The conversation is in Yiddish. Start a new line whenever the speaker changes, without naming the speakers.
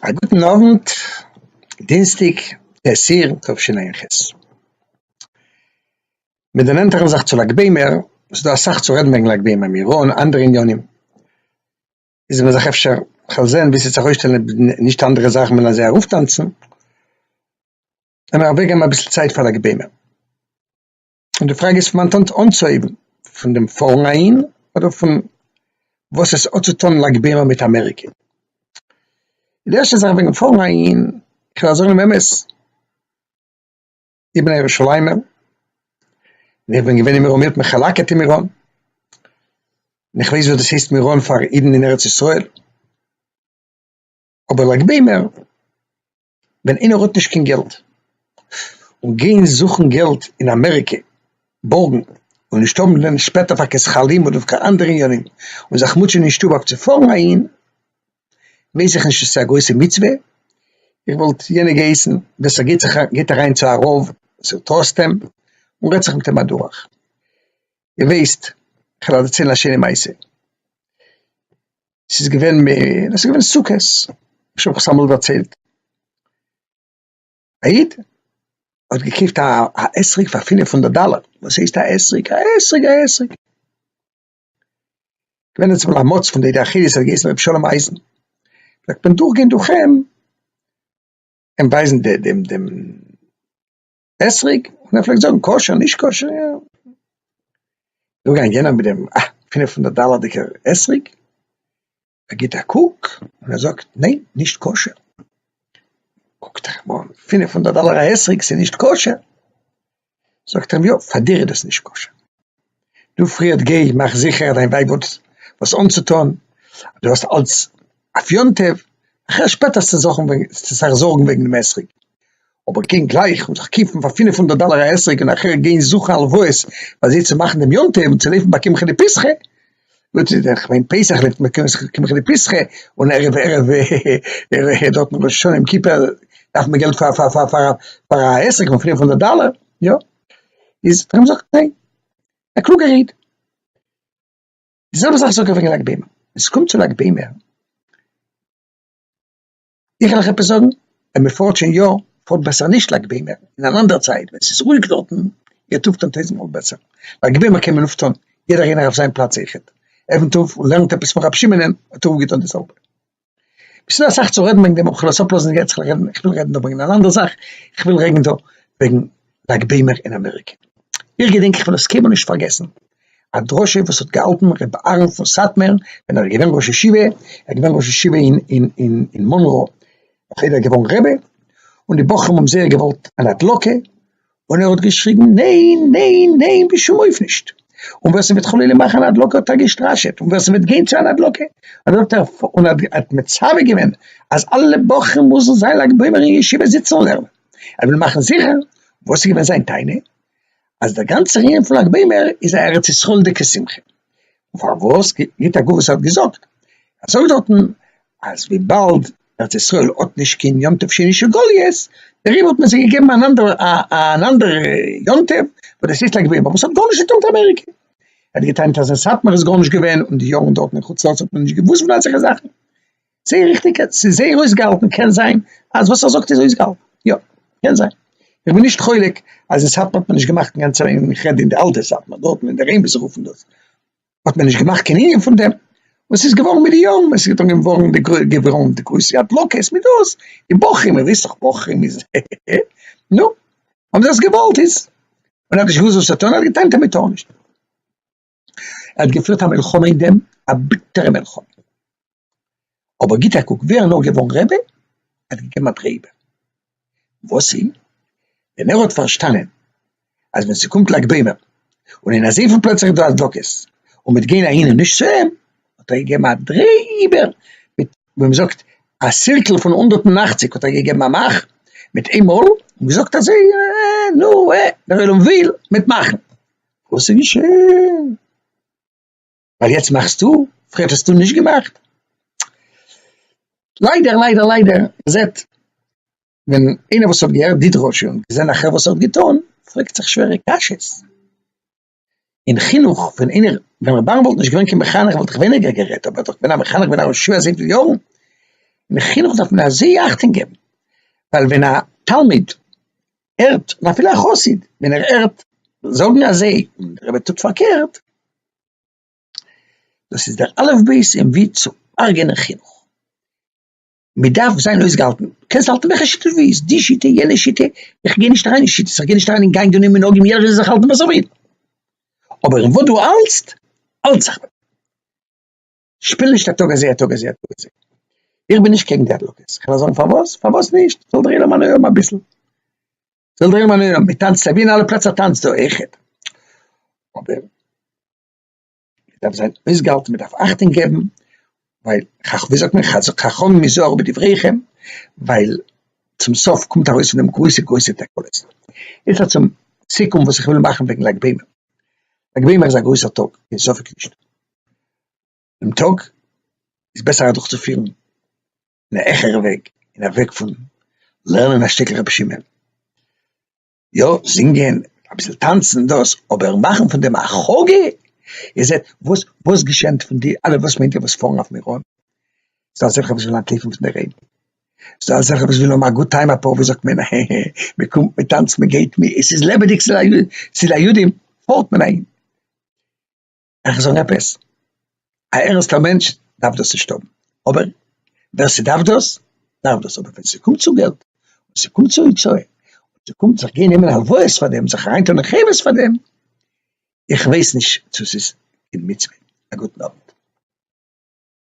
א גוטן אוונט, דינסטאג העשיר תשע"ח, מיר דערנענטערן זיך צו לג בעומר, ס'איז דא אסאך צו רעדן וועגן לג בעומר, מירון, אנדערע עניינים, איז מען זיך אפשר כ'וועל זען ווי ס'וועט זיך אויסשטעלן אויב נישט אנדערע זאכן וועלן זיי ארויפטאנצן, עמער אוועקגעבן אביסל צייט פאר לג בעומר. און די פראגע איז פון מיין טאנץ אנצוהייבן פון דעם פארן אהין אדער פון וואס עס האט צו טון לג בעומר מיט אמעריקע. די ערשטע זאך וועגן פארן אהין, איך וועל זאגן דעם אמת, איך בין א ירושלימ'ער, און איך בין געווען אין מירון, מיר האט מען חלק'עט אין מירון, און איך ווייס וואס דאס הייסט מירון פאר אידן אין ארץ ישראל, אבער לג בעומר, ווען איינער האט נישט קיין געלט, און גיין זוכן געלט אין אמעריקע, בארגן, און נישט האבן ווען שפעטער פאר קיין שקלים אדער פאר אנדערע עניינים, און זיך מוטשען אין שטוב אויף צו פארן אהין, ווייס איך נישט צו עס איז א גרויסע מצוה, איך וואלט יענער געהייסן ווער ס'גייט זיך א גייט אריין צו א רב וואס ער טראסט אים, און רעדט זיך מיט אים אדורך, איר ווייסט, כ'וועל אדערציילן א שיינע מעשה. ס'איז געווען מ א, ס'איז געווען סוכות, איך האב עס אמאל דערציילט. א איד האט געקויפט א אתרוג פאר פינף הונדערט דאלער, וואס הייסט א אתרוג? א אתרוג! א אתרוג! געווען איצט אמאל א מוצ פון די עדה החרדית האט געהייסן ר' שלום אייזן, פלעגט מען דורכגיין דורך אים און ווייזן די די די. אסריג, און ער פלעגט זאגן כשר נישט כשר יא, דא גיין יענער מיט דעם אה פינף הונדערט דאלערדיגע אסריג, ער גיבט א קוק און ער זאגט ניין נישט כשר, קוקט ער אים אן, פינף הונדערט דאלער א אסריג ס'נישט כשר? זאגט ער אים יא פאר דיר איז דאס נישט כשר. דו פריעד גיי מאך זיכער דיין ווייב האט וואס אנצוטון, דו האסט אלץ אויף יום טוב, אחרי שפעט האסטו זיך זארגן וועגן דעם אתרוג, אבער גיין גלייך און זיך קויפן פאר פינף הונדערט דאלער א אתרוג און אחרי גיין זוכן הלוואות פאר זיי צו מאכן דעם יום טוב און צו לויפן ביי קמחא דפסחא, איך מיין פסח לויפט מען קמחא דפסחא און ערב ערב דארטן ראש השנה יום כיפור דארף מען געלט פאר א עסק פון פינף הונדערט דאלער, יא. איז פאר אים זאגט מען ניין, א קלוגער איד, די זעלבע זאך זאג איך וועגן לג בעומר, ווען ס'קומט צו לג בעומר, איך וועל אייך עפעס זאגן, ווען מען פארט שוין יא, פארט בעסער נישט לג בעומר, אין אן אנדערע צייט ווען ס'איז רואיג דארטן, גייט אפטון טויזנט מאל בעסער, לג בעומר קען מען אפטון, יעדער איינער אויף זיין פלאץ אויכעט, עפנט אויף און לערנט עפעס פון רבי שמעונ'ען, האט ער אפגעטון די זעלבע. ס'איז דא אסאך צו רעדן וועגן דעם, כ'וועל עס אפלאזן יעצט, כ'וועל רעדן, כ'וויל רעדן דא וועגן אן אנדערע זאך, כ'וויל רעדן דא וועגן לג בעומר אין אמעריקע. איך געדענק, איך וועל עס קיינמאל נישט פארגעסן, א דרשה וואס האט געהאלטן ר' אהרן פון סאטמאר ווען ער איז געווען ראש ישיבה, ער איז געווען ראש ישיבה אין אין אין מאנרא, נאכדעם איז ער געווארן רבי, און די בחורים האבן זייער געוואלט אן הדלקה, און ער האט געשריגן ניין ניין ניין בשום אופן נישט, און ווער ס'וועט חלילה מאכן אן הדלקה האט ער געשטראשעט, און ווער ס'וועט גיין צו אן הדלקה האט ער און האט מצווה געווען אז אלע בחורים מוזן זיין לג בעומר אין ישיבה זיצן און לערנען, ער וויל מאכן זיכער, וואס איז געווען זיין טענה? אז דער גאנצער ענין פון לג בעומר איז א ארץ ישראל'דיגע שמחה, פארוואס גיט א גוף וואס ער האט געזאגט אזוי דארטן אז וויבאלד ארץ ישראל האט נישט קיין יום טוב שני של גליות דעריבער האט מען זיי געגעבן אן אנדערע אן אנדערע יום טוב וואס דאס איז א געווען וואס האט גארנישט געטון מיט אמעריקע ער האט געטענה'ט אז אין סאטמאר איז גארנישט געווען און די יארן דארטן אין חוץ לארץ האט מען נישט געוואוסט פון אזעלכע זאכן. זייער ריכטיג, ס'איז זייער אויסגעהאלטן, קען זיין אז וואס ער זאגט איז אויסגעהאלטן, יא, קען זיין, איך בין נישט חולק אז אין סאטמאר האט מען נישט געמאכט אינגאנצען ענין, איך רעד אין די אלטע סאטמאר דארט אין דער עין ווי זיי רופן דאס, האט מען נישט געמאכט קיין ענין פון דעם, און ס'איז געווארן מיט די יארן, עס איז אנגעהויבן ווארן די גרוי געווארן די גרויסע הדלקות מיט דאס, די בחורים, איר וויסט דאך בחורים איז הע הע הע, נו, האבן זיי עס געוואלט איז, און ער האט נישט געוואוסט וואס צו טון, ער האט געטענה'ט אז מ'טאר נישט. ער האט געפירט א מלחמה אין דעם, א ביטערע מלחמה. אבער גיט א קוק, ווי ער איז נאר געווארן רבי, ער האט געגעבן א דרעי איבער. וואס איז? ווען ער האט פארשטאנען אז ווען ס'קומט לג בעומר, און אין אזוי פיל פלעצער איז דא הדלקות, און מ'וועט גיין אהין און נישט צו אים, האט ער געגעבן א דרעי איבער, מיט, ווי מ'זאגט, א סירקל פון הונדערט און אַכציק האט ער געגעבן א מאך מיט איין מאל, און געזאגט אזוי, אה, נו, אה, דער עולם וויל, מ'וועט מאכן. וואס איז געשען? ווייל יעצט מאכסטו? פריערט האסטו נישט געמאכט? ליידער ליידער ליידער, מ'זעט ווען איינער וואס האט געהערט די דרשה און געזען אחר וואס ער האט געטון, פרעגט זיך שווערע קשיות. אין חינוך ווען איינער, ווען ר' אברהם וואלט נישט געווען קיין מחנך וואלט איך ווייניגער גערעדט, אבער ער איז דאך געווען א מחנך בין א רשע אזויפיל יארן, אין חינוך דארף מען אזוי אכטונג געבן, ווייל ווען א תלמיד הערט און אפילו א חסיד ווען ער הערט זאגן אזוי און דער רבי טוט פארקערט, דאס איז דער אלף בית אין ווי צו הרג'ענען חינוך, מען דארף זיין אויסגעהאלטן, קענסט האלטן וועלכע שיטה דו ווילסט, די שיטה, יענע שיטה, איך גיי נישט אריין אין שיטות, איך גיי נישט אריין אין גענגען און מנהגים, יעדער זאל זיך האלטן וואס ער וויל, אבער אין וואס דו האלטסט, האלט זיך. שפיל נישט א טאג אזוי א טאג אזוי א טאג אזוי. איך בין נישט קעגן די הדלקות, כ'על זאגן פארוואס, פארוואס נישט, זאל דרעינען מיין עולם אביסל, זאל דרעינען מיין עולם, מ'טאנצט אבי אין אלע פלעצער טאנצט דא אויכעט, אבער מ'דארף זיין אויסגעהאלטן, מ'דארף אכטונג געבן, ווייל חכ ווי זאגט מען חכמים היזהרו בדבריכם, ווייל צום סוף קומט ארויס פון דעם גרויסע גרויסע תקלות. יעצט צום סיכום וואס איך וויל מאכן וועגן לג בעומר, לג בעומר איז א גרויסער טאג, קיין ספק נישט. דעם טאג איז בעסער אדורך צו פירן אין א העכערע וועג, אין א וועג פון לערנען א שטיקל רבי שמעון, יא זינגען אביסל טאנצן דאס, אבער מאכן פון דעם א חאגע, איר זעט וואס וואס געשענט פון די אלע וואס מיינט איר וואס פארן אויף מירון, ס'דא אזעלכע וואס ווילן אנטלויפן פון די רעדן, ס'דא אזעלכע וואס ווילן האבן א גוד טיים אפאר ווי זאגט מען הע הע, מען קומט מען טאנצט מען גייט מען, עס איז לעבעדיג ס'איז א יו ט, ס'איז א יו ט פארט מען אהין. איך זאג עפעס, א ערענסטער מענטש דארף דאס נישט האבן, אבער ווער ס'דארף דאס, דארף דאס, אבער ווען ס'קומט צו געלט, און ס'קומט צו הוצאה, און ס'קומט זיך גיין נעמען הלוואות פאר דעם, זיך אריין טון אין חברות פאר דעם, איך ווייס נישט צו ס'איז קיין מצוה, א גוטן אוונט.